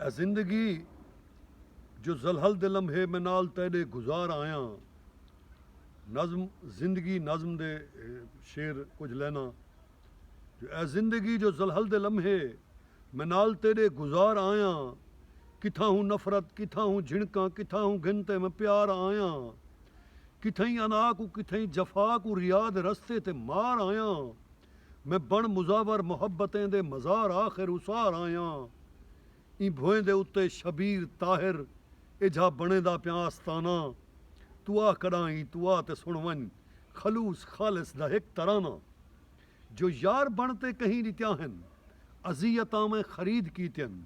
اے زندگی جو ذلحل دے لمحے میں نال تیݙے گزار آیاں نظم زندگی نظم دے شعر کجھ لائناں جو اے زندگی جو ذلحل دے لمحے میں نال تیݙے گزار آیاں کتھاں ہوں نفرت کتھاں ہوں جھنکاں کتھاں ہوں گھن تے میں پیار آیاں کتھئیں انا کوں کتھئیں جفا کوں ریا دے رستے تے مار آیاں۔ میں بݨ مزاور محبتیں دے مزار آخر اسار آیاں ایں بھوئیں دے اتے شبیر طاہر ایجھا بݨیندا پیاں آستانہ تو آ کݙاں ایں تو آ تے سݨ ونڄ خلوص خالص دا ہک ترانہ جو یار بݨ تے کہیں ݙتیاں ہن اذیتاں میں خرید کیتین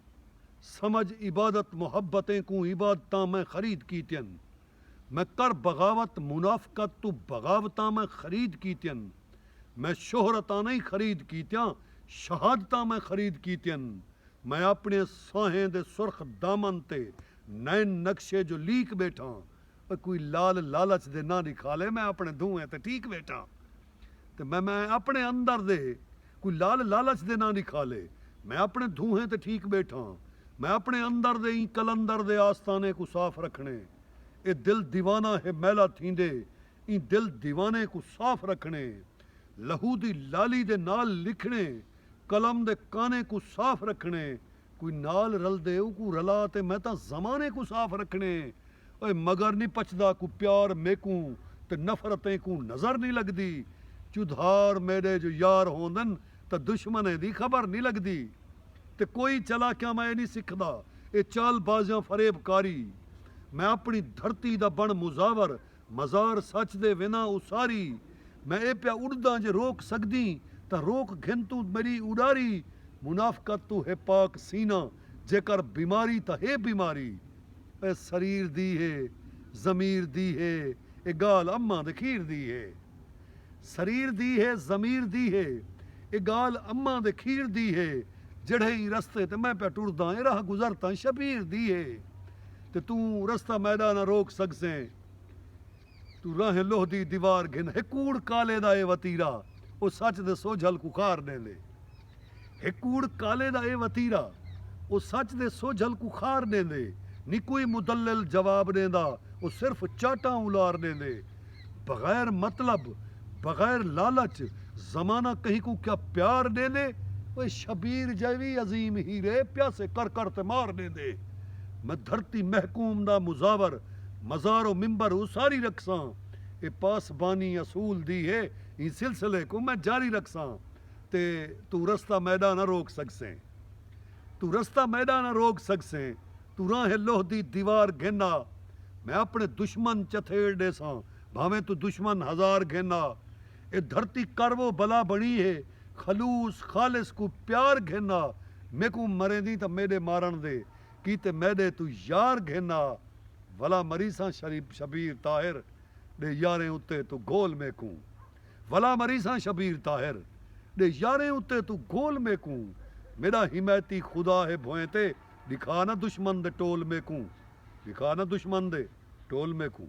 سمجھ عبادت محبتیں کوں عبادتاں میں خرید کیتین۔ میں کر بغاوت منافقت توں بغاوتاں میں خرید کیتین میں شہرتاںہیں خرید کیتیاں شہادتاں میں خرید کیتین میں اپنڑے سانہیں دے سرخ دامن تے نین نقشے جو لیک بیٹھاں کوئی لال لالچ دے ناں دی کھالے میں اپنڑے دھونیں تے ٹھیک بیٹھاں۔ تے میں میں اپنے اندر دے کوئی لال لالچ دے ناں نکھالے میں اپنے دھوہیں تے ٹھیک بیٹھاں میں اپنے اندر دے ایں قلندر دے آستانے کوں صاف رکھنے اے دل دیوانہ ہے میلا تھیندے ایں دل دیوانے کوں صاف رکھنے لہو دی لالی دے نال لکھنے قلم دے کانے کوں صاف رکھنے کوئی نال رلدے اوکوں رلا تے میں تاں زمانے کوں صاف رکھݨے اے مگر نی پچھدا کوئی پیار میکوں تے نفرت اینکوں نظر نی لڳدی چودھار میݙے جو یار ہوندن تاں دشمنیں دی خبر نی لڳدی تے کوئی چالاکیاں میں اے نی سکھدا اے چال بازیاں فریب کاری میں اپݨی دھرتی دا بݨ مزاور مزار سچ دے وینداں اساری۔ میں اے پیا اڈداں جے روک سگدیں تاں روک گھن توں میڈی اڈاری منافقت توں ہے پاک سینہ جیکر بیماری تاں ہے بیماری اے سریر دی ہے ضمیر دی ہے اے گالھ اماں دے کھیر دی ہے سریر دی ہے ضمیر دی ہے اے گالھ اماں دے کھیر دی ہے جیڑھے ایں رستے تے میں پیا ٹرداں اے راہ گزر تاں شبیر دی ہے تے توں رستہ میݙا نہ روک سڳسیں۔ توں راہیں لوہ دی دیوار گھن ہک کوڑ کالے دا اے وتیرا او سچ دے سوجھل کوں خار ݙیندے ہک کوڑ کالے دا اے وتیرا او سچ دے سوجھل کوں خار ݙیندے نی کوئی مدلل جواب ݙیندا او صرف چاٹاں اولار ݙیندے بغیر مطلب بغیر لالچ زمانہ کہیں کوں کیا پیار ݙیندے اوئے شبیر جئے وی عظیم ہیرے پیاسے کر کر تے مار ݙیندے میں دھرتی محکوم دا مزاور مزار و منبر اساری رکھساں اے پاسبانی اصول دی ہے ایں سلسلے کوں میں جاری رکھساں تے توں رستہ میݙا نہ روک سڳسیں توں رستہ میݙا نہ روک سڳسیں توں راہیں لوہ دی دیوار گھن آ میں اپݨے دشمن چتھیڑ ݙیساں بھانویں توں دشمن ہزار گھن آ اے دھرتی کر و بلا بݨی ہے خلوص خالص کوں پیار گھن آ میکوں مریندیں تاں میݙے مارݨ دے کیتے میݙے توں یار گھن آ ولا مریساں شبیر طاہر ݙے یاریں اتے توں گھول میکوں ولا مریساں شبیر طاہر ݙے یاریں اتے توں گھول میکوں میݙا حمایتی خدا ہے بھوئیں تے ݙکھا نہ دشمن دے ٹول میکوں ݙکھا نہ دشمن دے ٹول میکوں۔